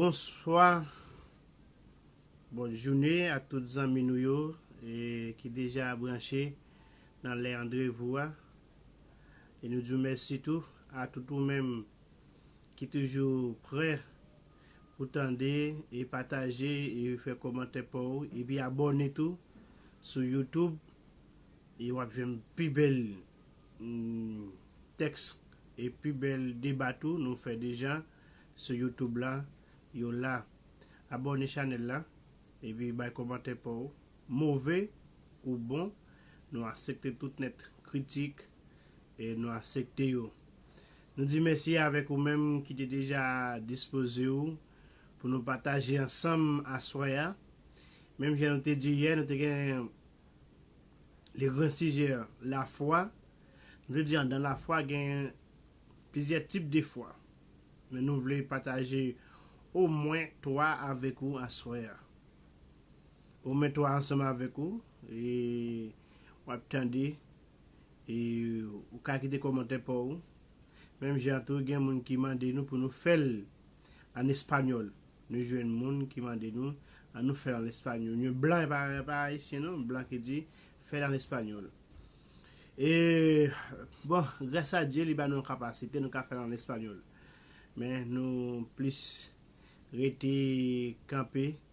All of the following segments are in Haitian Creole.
Bonswa Bon joune ak tout zanmi nou yo ki deja branche nan lè andrevou a e nou di w mèsi tou a tout ou menm ki toujou prè Pou tande e pataje e fè komantè paw epi abòne tou sou YouTube e wap jwenn pi bèl tèks e pi bèl deba tou nou fè deja sou YouTube la yo la abòne chanèl la epi bay komantè paw. Move ou bon, nou asepte tout nèt kritik e nou asepte yo. Nou di mèsi avèk ou menm ki te deja dispoze ou pou nou pataje ansanm aswè a. Menm jan nou te di yè, nou te gen le gran sijè lafwa. Nou te di andan lafwa gen plizyè tip de fwa. Men nou vle pataje omwen 3 avèk ou aswè a. Ou met ou ansanm avèk ou e wap tande e ou ka kite kòmantè pa ou. Menm jan tou gen moun ki mande nou pou nou fèl an español. Nou jwenn moun ki mande nou an nou fèl an español. Yon blan e pa ayisyen non, blan ki di fèl an español. E bon gras a Dye li ba nou kapasite nou ka fèl an español. Men nou plis rete kanpe.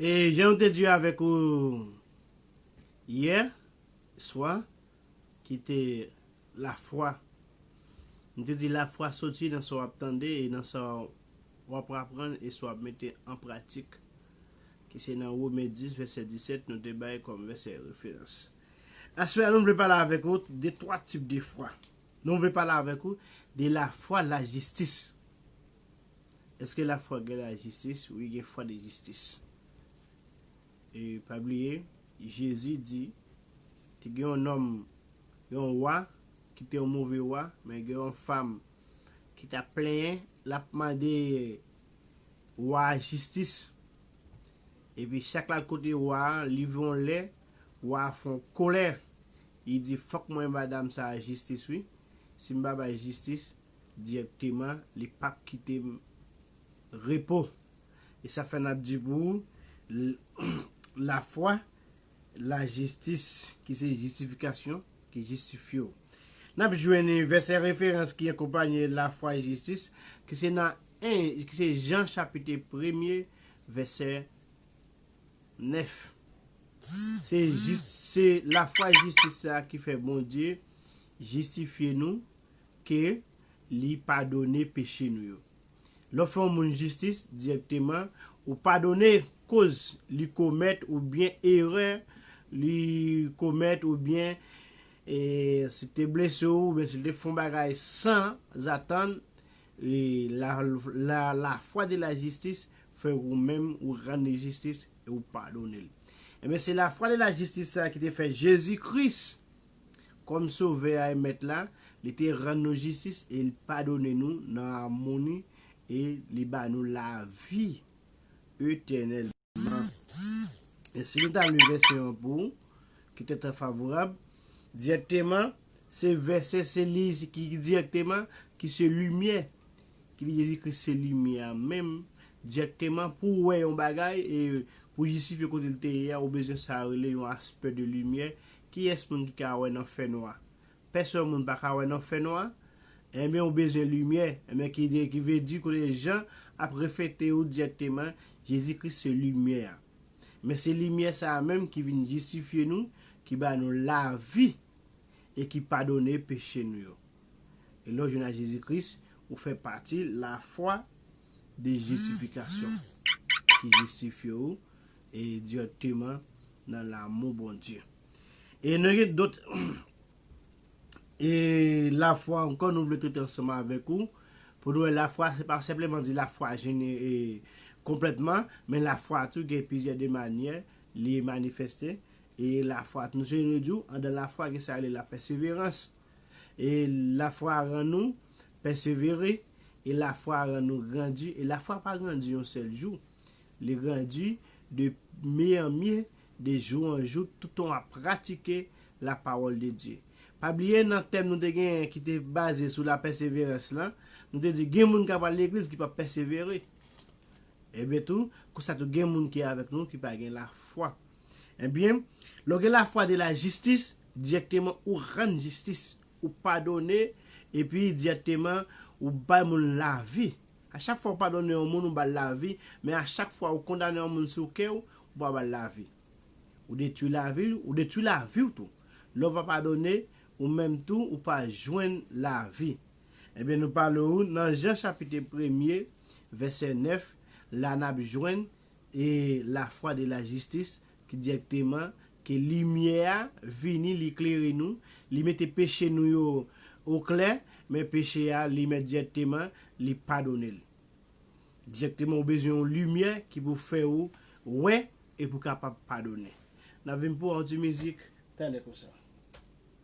E jan nou te di avèk ou yè swa ki te lafwa. Nou te di lafwa soti nan sa w ap tande e nan sa w ap aprann e sa w ap mete an pratik ki se nan Wome 10 vèsè 17 nou te bay kòm vèsè referans. Aswè a nou vle pale avèk ou de twa tip de fwa. Nou vle pale avèk ou de la fwa la jistis. Eske la fwa gen la jistis? Wi gen fwa de jistis. E pa bliye, Jezi di, te gen yon nonm, yon wa, ki te yon move wa, men gen yon fam ki ta plenyen, l ap mande wa a jistis. Epi chak l al kote wa a, rive yon lè, wa a fè yon kolè, Li di fòk mwen ba dam sa a jistis wi, si m pa bay jistis dirèkteman li p ap kite m repo. E sa fè n ap di pou ou, lafwa, lajistis ki se jistifikasyon ki jistifye w. N ap jwenn vèsè referans ki akonpanye lafwa e jistis ki se nan 1 ki se Jan chapit 1 premye vèsè 9. Se jis, se lafwa jistis sa a ki fè Bondye jistifye nou, ke Li padone peche nou yo. Lè w fè yon moun jistis, dirèkteman, ou padone koz li komèt oubyen erè li komèt oubyen si l te blese w oubyen si l te fè yon bagay san zatann, La la foi de la justice fè ou menm ou rann li jistis e ou padone l. Ebyen se la foi de la justice sa ki te fè Jezi Kris kòm sovè a e mèt la, li te rann nou jistis e li padone nou nan amoni e li ba nou lavi etènèl. E si nou ta li vèsè an pou ou, ki te trè favorab, dirèkteman, se vèsè se li ki dirèkteman ki se limyè, ki di Jezikri se limyè a menm, dirèkteman pou ou wè yon bagay e pou jistifye kote li te ye a ou bezwen sa yo rele yon aspè de limyè, kiyès moun ki ka wè nan fènwa? Pèsòn moun pa ka wè nan fè nwa, enben ou bezwen limyè, enben ki de ki vle di kote Jan ap reflete ou dirèkteman Jezi Kris se limyè a. Men se limyè sa a menm ki vin jistifye nou, ki ba nou lavi e ki padone peche nou yo. E lè ou jwenn ak Jezi Kris, ou fè pati lafwa de jistifikasyon ki jistifye ou E dirèkteman nan lamou Bondye. E nou gen dot. E lafwa ankò nou vle trete ansanm avèk ou. Pou nou wè lafwa se pa senpleman di lafwa jene e konplètman. Men lafwa tou gen plizyè de manyè li manifeste. E lafwa nou se nou di ou andan lafwa gen sa rele la pèseverans. E lafwa rann nou pèsevere. E lafwa rann nou grandi. E lafwa pa grandi yon sèl jou. Li grandi de mye an mye, de jou an jou, toutan w ap pratike lapawòl de Dye. Pa bliye nan tèm nou te genyen ki te baze sou lapèseverans lan, nou te di gen moun k ap al legliz ki p ap pèsevere. Ebyen tou, konsa tou gen moun ki avèk nou ki pa gen lafwa. Ebyen, lè w gen lafwa de lajistis, dirèkteman ou rann jistis, ou padone, epi dirèkteman ou bay moun lavi. A chak fwa ou padone yon moun ou bal lavi, men a chak fwa ou kondane yon moun sou kè ou, ou pa bal lavi. Ou detwi lavi l, ou detwi lavi w tou. Lè ou pa padone, ou menm tou ou pa jwenn lavi. Ebyen nou pale ou nan Jan chapite premye vèsè 9 la nap jwenn e lafwa de la jistis, ki dirèkteman, ke limyè a vini li klere nou, li mete peche nou yo o klè, men peche a li mèt dirèkteman li padone l. Dirèkteman ou bezwen yon limyè ki pou fè ou wè e pou kapab padone. N ap vin pou an ti mizik, tande konsa.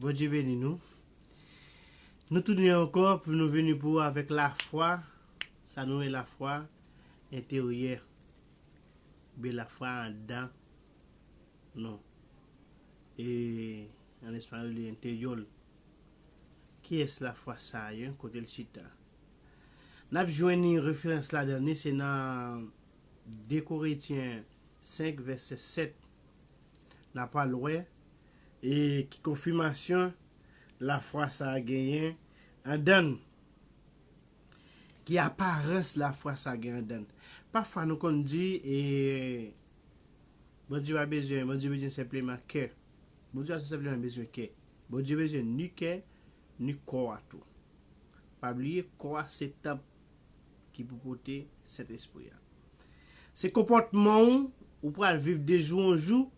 Bondye beni nou. Nou tounen ankò pou nou vini pou ou avèk lafwa, sa nou rele lafwa enteryè. Bela fwa andan nou. E an espayòl yo li enteryòl. Kiyès la fwa sa a yon kote l chita? N ap jwenn yon referans ladan li se nan 2 Koretyen 5 vèsè 7. N a pral wè e ki konfimasyon lafwa sa a genyen andan n. Ki aparans lafwa sa gen anndan l? Pafwa nou konn di, e, Bondye pa bezwen, Bondye bezwen senpleman kè. Bondye pa senpleman bezwen kè. Bondye bezwen ni kè, ni kò a tou. Pa bliye, kò a se tanp ki pou pote Sentespri a. Se konpòtman ou, ou pral viv de jou an jou,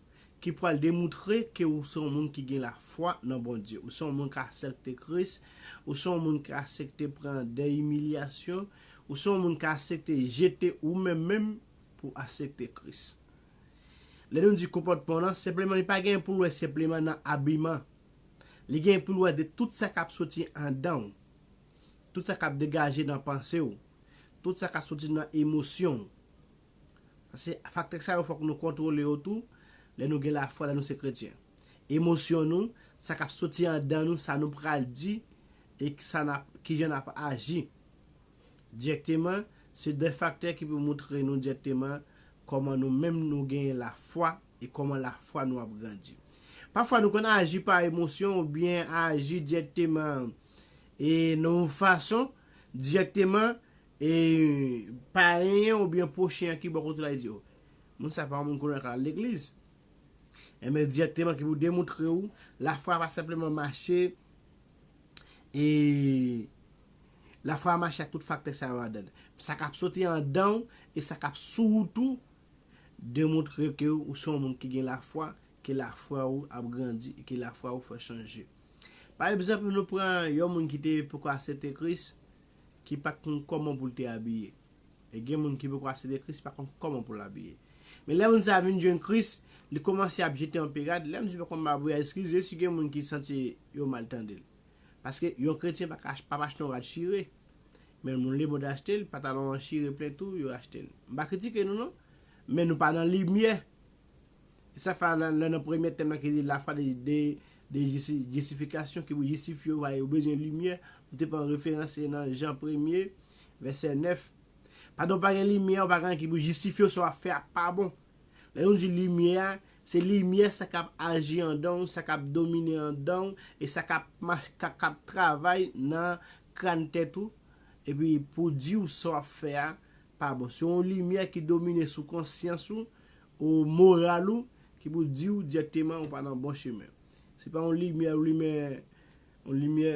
ki pral demoutre ke ou se yon moun ki gen lafwa nan Bondye, ou se yon moun k asèpte Kris, ou se yon moun ki asèpte pran dè imilyasyon, ou se yon moun ki asèpte jete ou menm menm pou w asèpte Kris. Lè nou di konpòtman w nan, senpleman li pa gen pou l wè senpleman nan abiman, li gen pou l wè de tout sa k ap soti andan w, tout sa k ap degaje nan panse w, tout sa k ap soti nan emosyon w. Se faktè sa yo fòk nou kontwole yo tou lè nou gen lafwa, lè nou se kretyen. Emosyon nou, sa k ap soti andan nou, sa nou pral di e kijan n ap aji dirèkteman se de faktè ki pou moutre nou dirèkteman kòman nou menm nou genyen lafwa e kòman lafwa nou ap grandi. Pafwa nou konn aji pa emosyon oubyen aji dirèkteman e nan yon fason dirèkteman E payen an oubyen pwochen an ki bò kote w la e di w, Moun sa pa yon moun konnen ak al legliz. Enben dirèkteman ki pou demoutre w lafwa pa senpleman mache e lafwa mache ak tout faktè sa yo ladan l. Sa k ap soti andan w e sa k ap sou ou tou demoutre ke ou se yon moun ki gen lafwa, ke lafwa ou ap grandi e ke lafwa ou fè chanje. Pa egzanp nou pran yon moun ki te poko asepte Kris ki pa t konn kòman pou l te abiye. E gen moun ki poko asepte Kris pa konn kòman pou l abiye. Men lè moun sa a vin jwenn Kris, li kòmanse ap jete anpe rad. Lè m di pa konn babouya, eskize si gen moun ki santi yo mal tande l. Paske yon kretyen pa ka pa achte yon rad chire. Men moun lemonn achte l, patalon an chire plen tou, yo achte l. M pa kritike nou non. Men nou pa nan limyè. Sa fè a nan premye tèm la ki di La foi de justification ki pou jistifye ou va yo bezwen limyè, nou te pran referans se nan Jan premye, vèsè 9. Padan ou pa gen limyè, ou pa gen anyen ki pou jistifye ou sa w ap fè a pa bon. Lè nou di limyè a, se limyè sa k ap aji andan ou, sa k ap domine andan ou e sa k ap travay nan kran tèt ou epi pou di ou sa w ap fè a pa bon. Se yon limyè ki domine sou konsyans ou, ou moral ou, ki pou di ou dirèkteman ou pa nan bon chemen. Se pa yon limyè ou limen, yon limyè,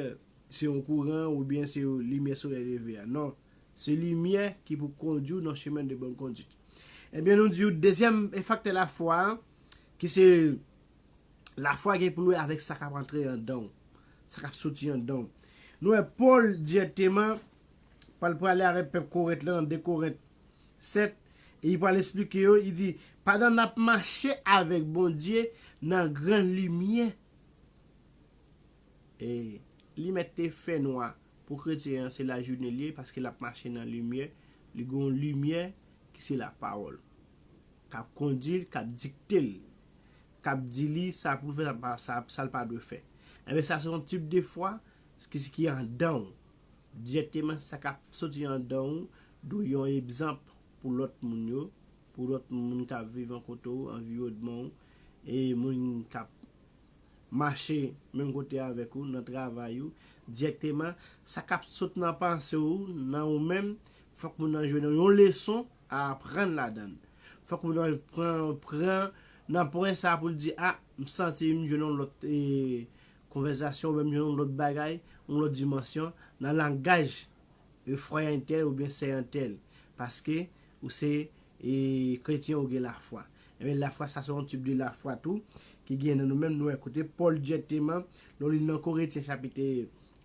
se yon kouran ou byen se yon limyè solèy leve a. Non. Se limyè ki pou kondi ou nan chemen de bonn kondit. E byen nou di ou dezyèm faktè lafwa a, ki se lafwa gen pou l wè avèk sa k ap antre andan ou, sa k ap soti andan ou. Nou wè Pòl dirèkteman pral prale avèk pèp Korent lan nan 2 Korent 7, e li pral esplike yo, li di, pandan n ap mache avèk Bondye nan gran limyè, e li mèt te fè nwa, pou kretyen an se lajounen li ye, paske l ap mache nan limyè, li gen yon limyè ki se lapawòl, k ap kondi l, k ap dikte l, k ap di li sa pou l fè, sa l pa dwe fè. Enben sa se yon tip de fwa ki andan w. Dirèkteman sa kap soti andan ou dwe yon ebzanp pou lòt moun yo, pou lòt moun kap viv ankote ou, anviwodman ou, e moun kap mache menm kote avèk ou, nan travay ou. Dirèkteman sa kap sot nan panse ou, nan ou menm, fòk moun nan jwenn yon leson a aprann ladan l. Fòk moun nan pran pran nan pwen sa pou l di a, m santi m jwenn yon lòt Konvèzasyon menm jan yon lòt bagay, yon lòt dimansyon, nan langaj refwayan tèl oubyen seyan tèl, paske ou se kretyen ou gen lafwa. Enben lafwa sa se yon tip de lafwa tou ki gen nan nou menm nou wè kote Pòl dirèkteman lè w li nan Koretyen chapit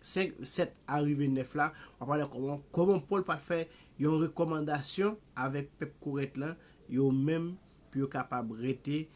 5, 7 a rive 9 la, w ap wè kòman kòman Pòl pa t fè yon rekòmandasyon avèk pèp Korent lan yo menm pou yo kapab rete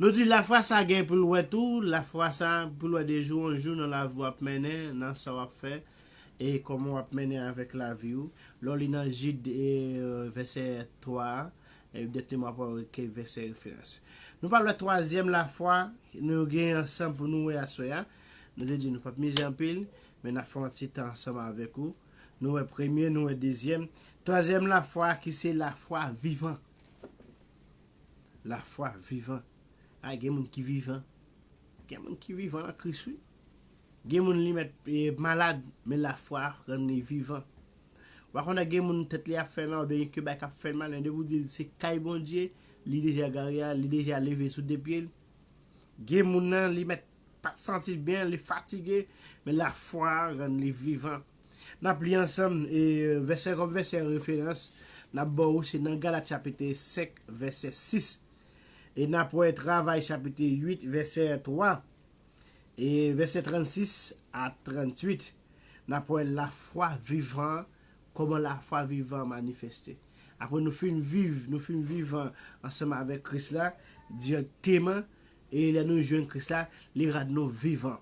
Nou di lafwa sa gen pou l wè tou, lafwa sa pou l wè de jou an jou nan lavi w ap mennen, nan sa w ap fè, e kòman w ap mennen avèk lavi w. Lè w li nan Jid vèsè 3 a, evidentteman w ap wè ke vèsè referans. Nou pral wè twazyèm lafwa nou gen ansanm pou nou wè aswè a. Nou te di nou p ap mize anpil, men n ap fè yon ti tan ansanm avèk ou. Nou wè premye, nou wè dezyèm. Twazyèm lafwa ki se lafwa vivan. Lafwa vivan. A gen moun ki vivan. Gen moun ki vivan an Kris wi. Gen moun li mèt malad, men lafwa rann li vivan. Wa konnen gen moun tèt li ap fè mal oubyen ke bagay kap fèl mal men depi ou dil se kay Bondye, li deja gare al, li deja leve sou de pyel. Gen moun nan li mèt pat santil byen, li fatige, men lafwa rann li vivan. N ap li ansanm, e vèsè kòm vèsè referans n ap ba ou se nan Galat chapit 5 vèsè 6, e n ap wè travay chapit 8 vèsè 3, e vèsè 36 a 38 n ap wè lafwa vivan an, kòman lafwa vivan an manifeste. Apre nou fin viv, nou fin vivan ansanm avèk Kris la dirèkteman, e lè nou jwenn Kris la, li rann nou vivan.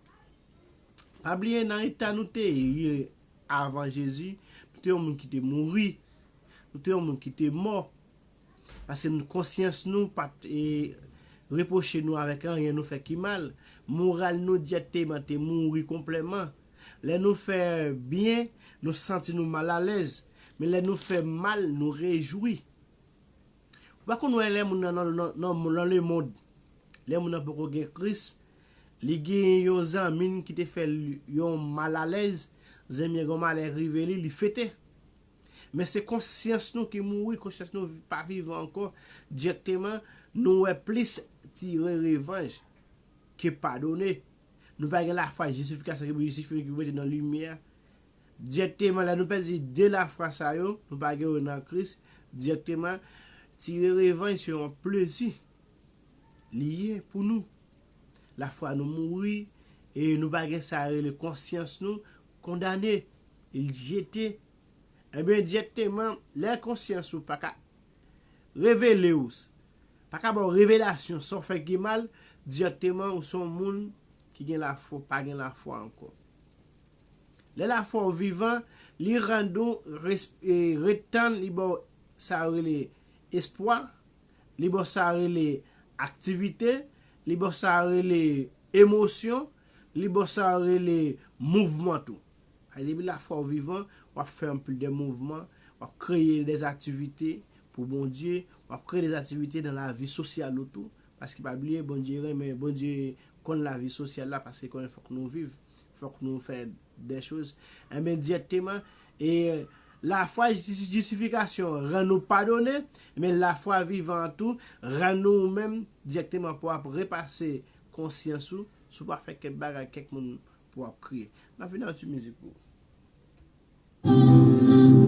Pa bliye nan eta nou te ye avan Jezi, nou te yon moun ki te mouri, nou te yon moun ki te mò, paske nou konsyans nou pa t e repwoche nou avèk anyen nou fè ki mal, moral nou dirèkteman te mouri konplèman. Lè nou fè byen, nou santi nou mal alèz, men lè nou fè mal, nou rejwi. Ou pa konn wè lè moun nan nan lemond, lè moun nan poko gen Kris, Li genyen yon zanmin ki te fè l yon mal alèz, zanmi an gen yon malè rive li, li fete. Men se konsyans nou ki mouri, konsyans nou pa vivan ankò, dirèkteman nou wè plis tire revanj ke padone. Nou pa gen lafwa jistifikasyon ki pou jistifye nou, ki pou mete nou nan limyè a. Dirèkteman lè nou pèdi 2 lafwa sa yo, nou pa gen yo nan Kris, dirèkteman tire revanj se yon plezi. Li ye pou nou. Lafwa nou mouri e nou pa gen sa rele konsyans nou kondane, e li jete. Enben dirèkteman, lè konsyans ou pa ka revele ou, pa ka ba w revelasyon sa w fè ki mal, dirèkteman ou se yon moun ki gen lafwa, ou pa gen lafwa ankò. Lè lafwa w vivan, li rann ou ret tann li ba w sa yo rele espwa, li bo sa rele aktivite, li bo sa rele emosyon, li bo sa rele mouvman tou. Paske depi lafwa w vivan, w ap fè anpil de mouvman, w ap kreye de aktivite pou Bondye, w ap kreye de aktivite nan lavi sosyal ou tou, paske pa bliye Bondye renmen, Bondye konn lavi sosyal la paske l konnen fòk nou viv, fòk nou fè. Des choses. Enben, dirèkteman, e, lafwa jis, jisifikasyon an rann ou padone, enben lafwa vivan an tou rann ou ou menm dirèkteman pou ap repase konsyans ou si w pa fè kèk bagay kèk moun pou ap kriye. N ap vini ak yon ti mizik pou ou.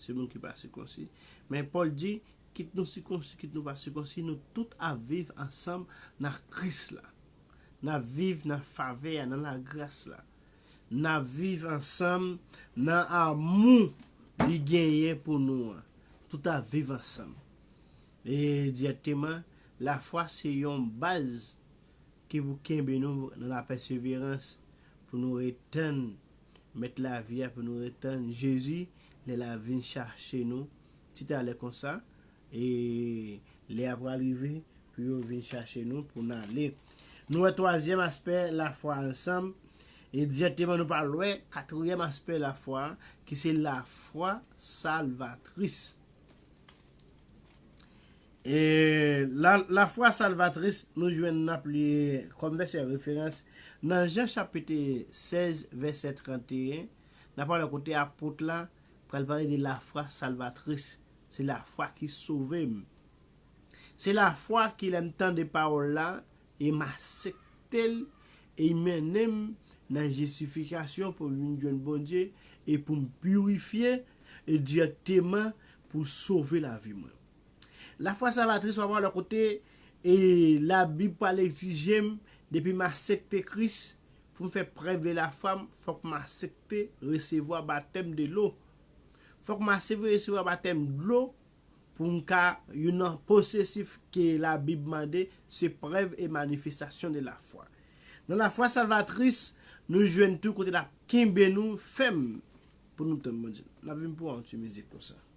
Se nou ki pa sikonsi. Men Pòl di, kit nou sikonsi, kit nou pa sikonsi, nou tout ap viv ansanm nan Kris la. N ap viv nan favè a, nan lagras la. N ap viv ansanm nan amou li genyen pou nou an. Tout ap viv ansanm. E dirèkteman, lafwa se yon baz ki pou kenbe nou nan lapèseverans pou nou ret tann Mèt lavi a pou nou ret tann Jezi lè l ap vin chache nou ti talè konsa, e lè a pral rive pou yo vin chache nou pou n ale. Nou wè twazyèm aspè lafwa a ansanm, e dirèkteman nou pral wè katryèm aspè lafwa a ki se lafwa salvatris. E la lafwa salvatris nou jwenn nan pli kòm vèsè referans nan Jan chapit 16 vèsè 31, nan pawòl kote apot la pral pale de lafwa salvatris, se lafwa ki sove m. Se lafwa ki lè m tande pawòl la e m asepte l e i mennen m nan jistifikasyon pou m vin jwenn Bondye e pou m pirifye e dirèkteman pou sove lavi mwen. La foi salvatrice wap wè lò kote e la bib pral egzijem depi m asepte kris pou m fè prèv de la foi m fòk m asepte resevwa batèm de lo fòk m asepte resevwa batèm dlo pou m ka youn nan posesif ke la bib mande se prèv e manifestasyon de la foi nan la foi salvatrice nou jwenn tou kote lap kenbe nou fèm pou nou tann Bondye nap vin pou an ti mizik konsa.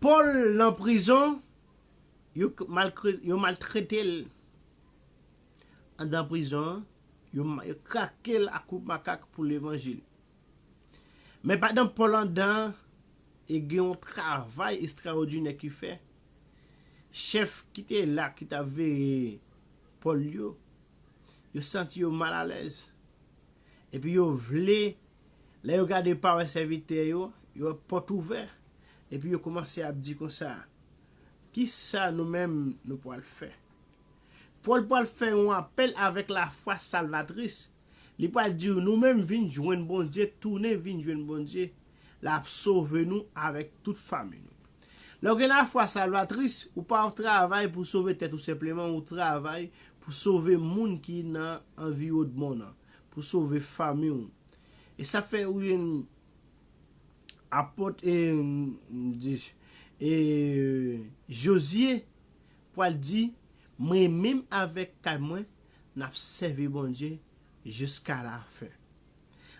Paul nan prizon yo maltretel andan prizon an yo krakel a kout makak pou levanjil men pandan Paul andan e gen yon travay estraodinè ki fè chèf kite la ki tap veye Paul yo yo santi yo mal alèz epi yo vle Lè yo gade pa wè sèvitè yo, yo wè pòt ouvè, epi yo koumanse ap di konsa, Ki sa nou menm nou pwal fè? Pòl pwal fè yon apèl avèk lafwa salvatris, li pwal di yo, Nou menm vin jwenn Bondye, tounen vin jwenn Bondye, l'ap sove nou avèk tout fanmi nou. Lè w gen lafwa salvatris, ou pa travay pou sove tèt ou senpleman, ou travay pou sove moun ki nan anviwodman w nan. pou sove fanmi w e sa fè ou yn apot e e Jozye pwal di mwen menm avèk kay mwen nap sèvi Bondye jiska la fen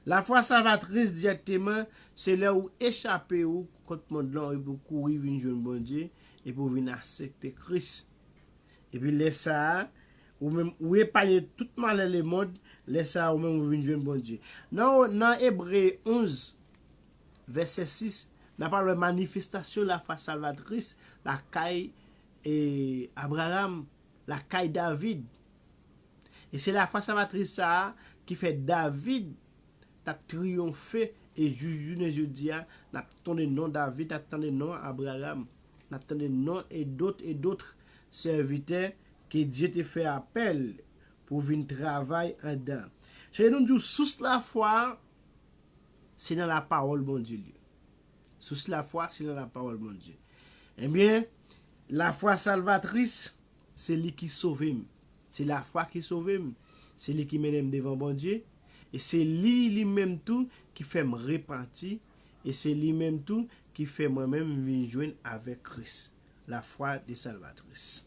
lafwa salvatris dirèkteman se lè ou echape ou kont mond lan epi ou kouri vin jwenn Bondye epi ou vin asepte Kris epi lè sa Ou menm, ou epanye tout malè lemond, lè sa a ou menm ou vin jwenn Bondye. Nan o, nan Ebre 11, vèsè 6, n apral wè manifestasyon lafwa salvatris lakay e Abraram, lakay David. E se lafwa salvatris sa a ki fè David t ap triyonfe e jous jounen jodi a n ap tonde non David, n ap tande non Abraram, n ap tande non e dot e dotr sèvitè Ke Dye te fè apèl pou vin travay andan. Se nou di w sous lafwa a se nan lapawòl Bondye l ye. Sous lafwa se nan lapawòl Bondye. Ebyen, lafwa salvatris, se li ki sove m. Se lafwa ki sove m. Se li ki mennen m devan Bondye. E se li, li menm tou, ki fè m repanti. E se li menm tou ki fè mwen menm m vin jwenn avèk Kris. La foi de salvatrice.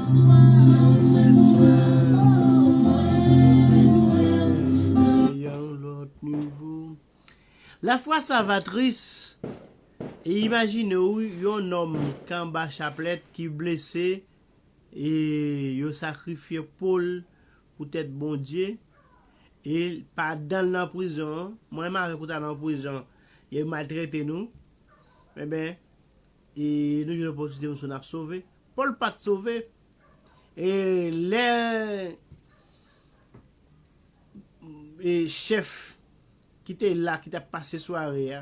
Mwen bezwen w, mwen bezwen w nan yon lòt nivo. La foi salvatrice e imajine w yon nonm k anba chaplèt ki blese e yo sakrifye po l poutèt Bondye e pa dan l nan prizon an mwen mare pou ta nan prizon e maltrete nou enben E nou jwenn opòtinite nou sove, n ap sove. Pòl pa t sove. E lè chèf ki te la, ki t ap pase sware a,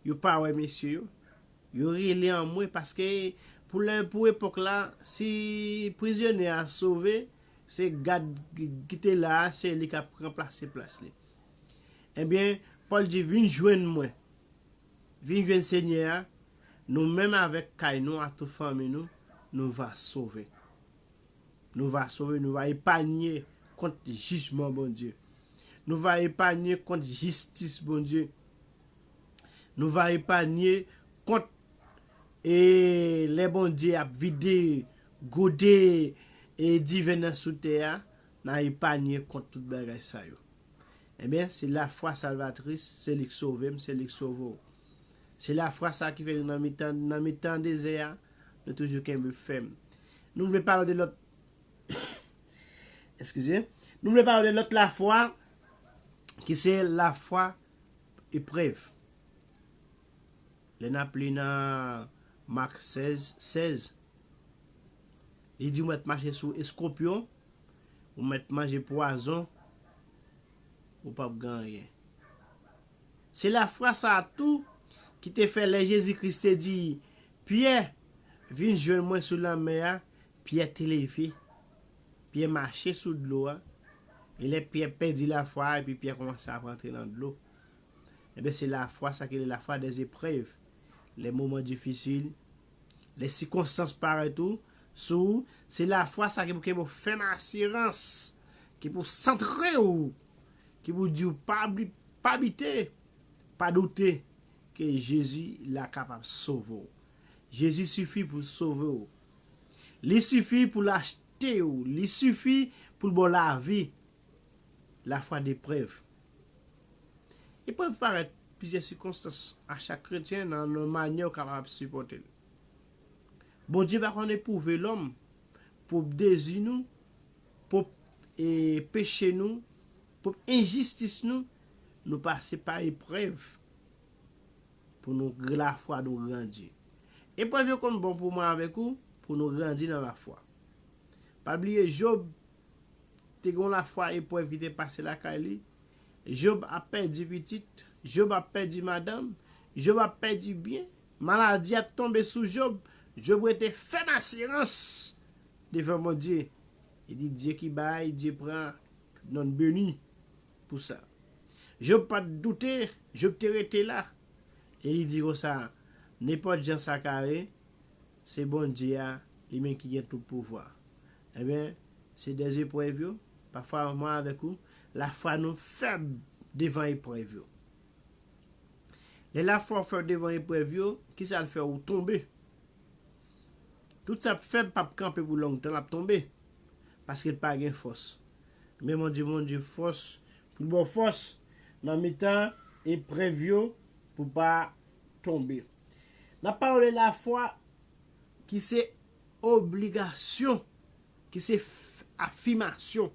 yo pa wè mesye yo, yo rele anmwe paske pou epòk la, si prizyonè a sove, se gad ki te la a, se li k ap ranplase plas li. Ebyen, Pòl di, Vin jwenn mwen. Vin jwenn Senyè a, nou menm avèk kay nou ak tout fanmi nou, nou va sove. Nou va sove, nou va epanye kont jijman Bondye. Nou va epanye kont jistis Bondye. Nou va epanye kont e lè Bondye ap vide gode e diven nan sou tè a, Na epanye kont tout bagay sa yo. Ebyen, se lafwa salvatris, se li k sove m, se li k sove w. Se lafwa sa ki fè nou nan mitan, nan mitan dezè a, nou toujou kenbe fèm. Nou vle pale w de lòt, eskize, nou vle pale w de lòt lafwa ki se lafwa eprèv. Lè n ap li nan Mak 16, 16, Li di ou mèt mache sou eskonpyon, ou mèt manje pwazon, ou pap gen anyen. Se lafwa sa a tou ki te fè lè Jezi Kris te di Pyè, Vin jwenn mwen sou lanmè a, Pyè te leve, Pyè mache sou dlo a, e lè Pyè pèdi lafwa a epi Pyè kòmanse ap antre nan dlo. Enben se lafwa sa ki rele lafwa dèzeprèv, lè moman difisil Lè sikonstans parèt ou, sou ou, se lafwa sa ki pou kenbe ou fèm asirans, ki pou santre ou, ki pou di ou pa pa bite, pa doute ke Jezi la kapab sove ou. Jezi sifi pou l sove ou. Li sifi pou l achte ou, li sifi pou l ba w lavi. Lafwa de prèv. Eprèv parèt plizyè sikonstans a chak kretyen nan yon manyè ou kapab ap sipòte l. Bondye pa konn epwouve lòm pwop dezi nou, pwop peche nou, pwop enjistis nou, nou pase pa eprèv pou nou lafwa nou grandi. Eprèv yo konn bon pou mwen avèk ou pou nou grandi nan lafwa. Pa bliye Job Te gen yon lafwa eprèv ki te pase lakay li, Job ap pèdi pitit, Job ap pèdi madanm, Job ap pèdi byen, maladi ap tonbe sou Job, Job rete fèm asirans devan Bondye, li di Dye ki bay, Dye pran, tout nonn beni pou sa. Job pa t doute, Job te rete la, e li di konsa, Nenpòt jan sa ka ye, Se Bondye a, li menm ki gen tout pouvwa. Enben, se de eprèv yo, pafwa mwen avèk ou, lafwa nou fèb devan eprèv yo. Lè lafwa ou fèb devan eprèv yo, ki sa l fè ou? Tonbe. Tout sa k fèb p ap kanpe pou longtan, l ap tonbe, paske l pa gen fòs. Men Bondye, Bondye fòs, pou l ba w fòs nan mitan eprèv yo, pou w pa tonbe. N ap pale de lafwa ki se obligasyon, ki se afimasyon.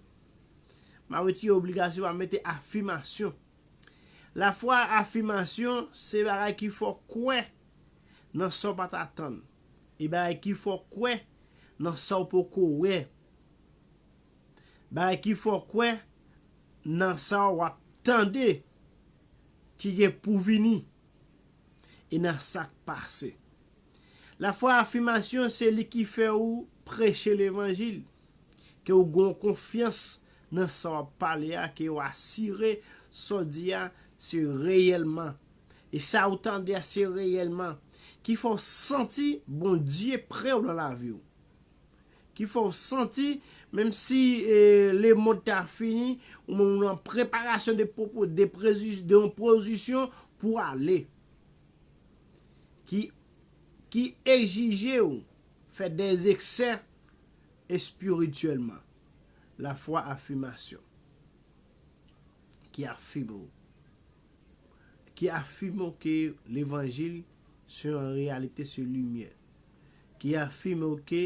M a retire obligasyon, m a mete afimasyon. Lafwa a afimasyon se bagay ki fè w kwè nan sa w pa t atann. E bagay ki fè w kwè nan sa w poko wè. Bagay ki fè w kwè nan sa w ap tande ki gen pou vini. e nan sa k pase. Lafwa afimasyon se li ki fè ou preche levanjil, ke ou gen yon konfyans nan sa w ap pale a, ke ou asire sa w di a se reyèlman, e sa ou tande a se reyèlman, ki fè w santi Bondye pre w nan lavi w. Ki fè w santi menm si lemond ta fini, ou menm ou nan preparasyon de yon pozisyon pou w ale. Ki egzije w fè de eksè espirityèlman. Lafwa afimasyon. Ki afime w. Ki afime w ke levanjil se yon reyalite, se limyè. Ki afime w ke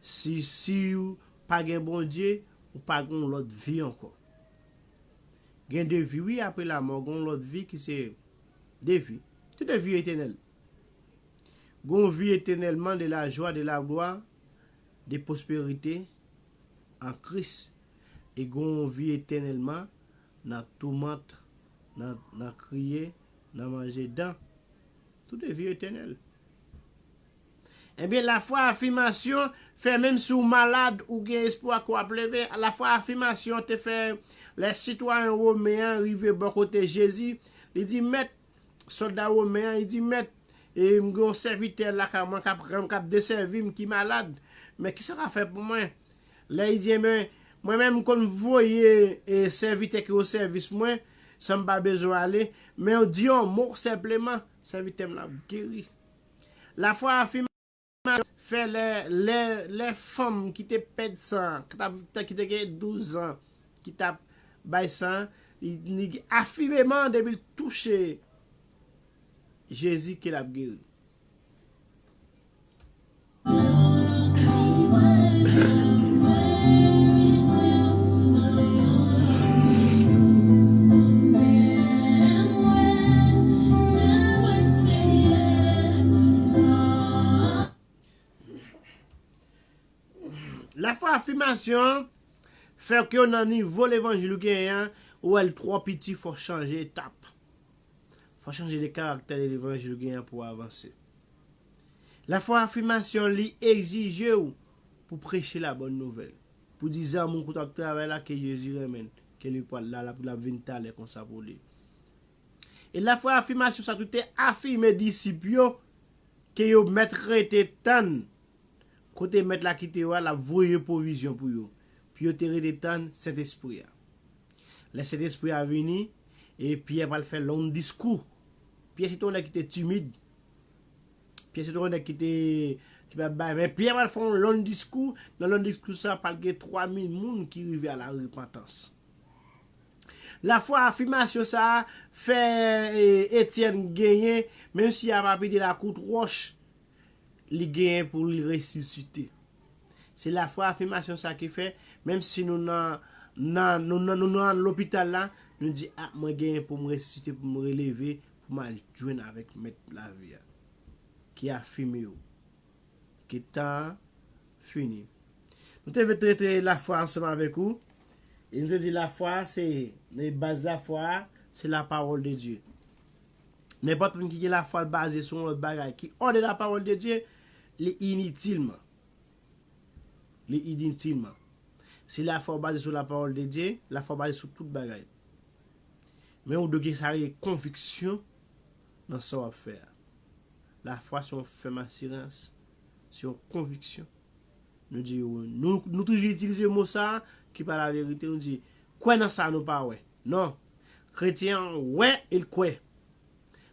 si siw pa gen Bondye ou pa gon lòt vi ankò. Gen de vi wi apre lamò gon lòt vi ki se de vi. Se de vi etenèl. Gon vi etenèlman de la jwa de la glwa de pwosperite an Kris e gon vi etenèlman nan toumant nan nan kriye nan manje dan. Tout e vi etènèl. Ebyen lafwa afimasyon fè menm si w malad ou gen espwa ke w ap leve, lafwa afimasyon te fè lè sitwayen women an rive bò kote Jezi, li di, Mèt, sòlda women an, li di, Mèt, e m gen yon sèvitè lakay mwen k ap k ap desèvi m ki malad, men kisa w ka fè pou mwen? Lè li di, Enben, mwen menm m konn voye sèvitè ki osèvis mwen san m pa bezwen ale, men w di yon mo senpleman, sèvitè m nan ap geri. Lafwa afime sa fè lè fanm ki te pèd san an, ki te gen douzan ki t ap bay san an, li afimeman depi l touche Jezi ke l ap geri. Lafwa afimasyon an fè ke nan nivo levanjil ou genyen an, ou wè l twò piti fò w chanje etap. Fò chanje de karaktè lè levanjil gen an pou avanse. Lafwa afimasyon li egzije ou pou preche la bòn nouvèl, pou di zanmi w kote wap travay la ke Jezi renmen l, ke li pwal la la pou lap vin talè konsa pou li. E lafwa afimasyon sa tou te afime disip yo ke yo mèt rete tann kote mèt la kite yo a lap voye pwovizyon pou yo, pou yo te rete tann Sentespri a. Lè Sentespri a vini, e Pyè pral fè long diskou. Pyè se te yon nèg ki te timid. Pyè se te yon nèg ki te, ki pa bay, men Pyè pral fè yon long diskou, nan long diskou sa pral gen 3000 moun ki rive a la repantans. Lafwa afimasyon sa a fè Etyèn genyen, menm si a pa pete lakout wòch, Li genyen pou li resisite. Se lafwa afimasyon sa ki fè, menm si nou nan lopital la, nou di, a, mwen genyen pou m resisite, pou m releve, pou m al jwenn avèk Mèt lavi a, ki afime ou, ke tan an fini. Nou te vle trete lafwa ansanm avèk ou, e nou te di lafwa se, baz lafwa a, se lapawòl de Dye. Nenpòt moun ki gen lafwa l baze sou yon lòt bagay ki òde lapawòl de Dye, li initilman. Li initilman. Si lafwa ou baze sou lapawòl de Dye, lafwa baze sou tout bagay. Men ou dwe gen sa rele konviksyon nan sa w ap fè a. Lafwa se yon fèm asirans, se yon konviksyon. Nou di, nou toujou itilize mo sa a ki pa laverite, nou di, kwè nan sa nou pa wè. Non! Kretyen an wè e l kwè.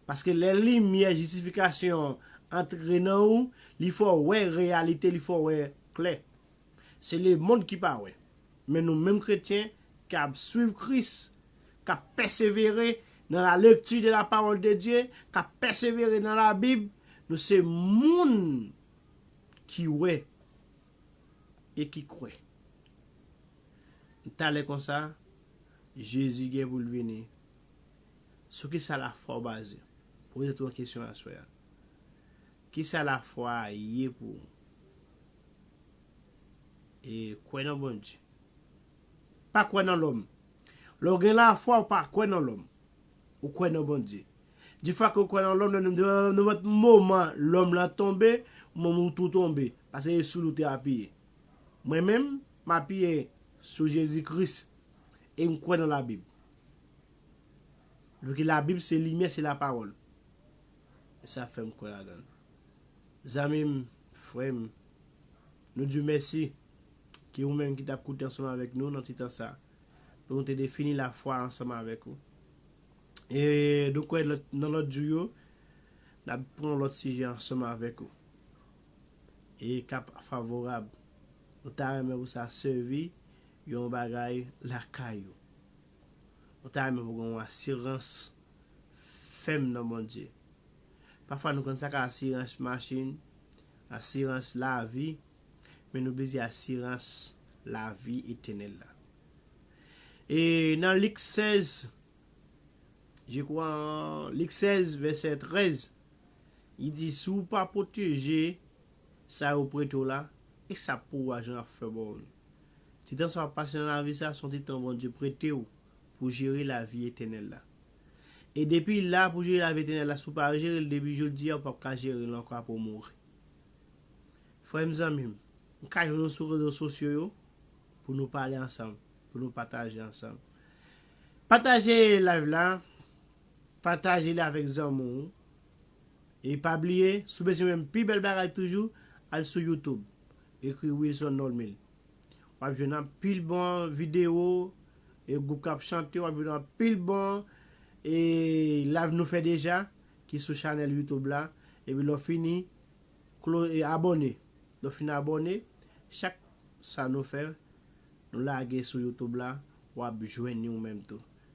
Paske lè limyè jistifikasyon an antre nan ou, li fè w wè reyalite, li fè w wè klè. Se lemonn ki pa wè. Men nou menm kretyen k ap suiv Kris, k ap pèsevere nan la lekti de la pawòl de Dye, k ap pèsevere nan Labib, nou se moun ki wè e ki kwè. Talè konsa, Jezi gen pou l vini. Sou ki sa lafwa w baze? Poze twa kesyon aswè a. Ki sa lafwa a ye pou ou? E kwè nan Bondye. Pa kwè nan lòm. Lè w gen lafwa, ou pa kwè nan lòm. Ou kwè nan Bondye. Defwa ke ou kwè nan lòm, nenpòt moman lòm lan tonbe, ou menm ou tou tonbe. Paske e sou li ou te apiye. Mwen menm, m apiye sou Jezi Kris. E m kwè nan labib. Viki labib se limyè se la pawòl. E sa fèm kwè ladann. Zanmim, frèm, nou diw mèsi ki ou menm ki tap koute ansanm avèk nou nan ti tan sa pou nou te defini lafwa ansanm avèk ou. E nou kwè nan lòt jou yo nap pran yon lòt sijè ansanm avèk ou. E kap favorab. Nou ta renmen pou sa sèvi Yon bagay lakay ou. Ou ta renmen pou gen yon asirans fèm nan Bondye. Pafwa nou konn sa k asirans machin, asirans lavi, men nou bliye asirans lavi etenèl la. E nan Lik 16, je kwa Lik 16 vèsè 13, li di si w pa pwoteje Sa yo prete w la, e sa pou ou ajan ap fè ba w li. Ti tan sa w ap pase nan lavi sa a se yon ti tan Bondye prete w pou jere lavi etènèl la. E depi l la pou jere lavi etènèl la si w pa jere l depi jodi a ou pap ka jere l ankò apre w mouri. Frè m zanmi m, m ka jwenn ou sou rezo sosyo yo pou nou pale ansanm, pou nou pataje ansanm. Pataje live la, Pataje li avèk zanmi w. E pa bliye, si w bezwen menm pi bèl bagay toujou, al sou YouTube, ekri Wilson Normil. W ap jwenn anpil bon videyo, e gwoup k ap chante, w ap jwenn anpil bon e live nou fè deja ki sou chanèl YouTube la. Epi lè w fini, klo e abòne. Lè w fin abòne, chak sa nou fè, nou lage sou YouTube la, w ap jwenn li ou menm tou.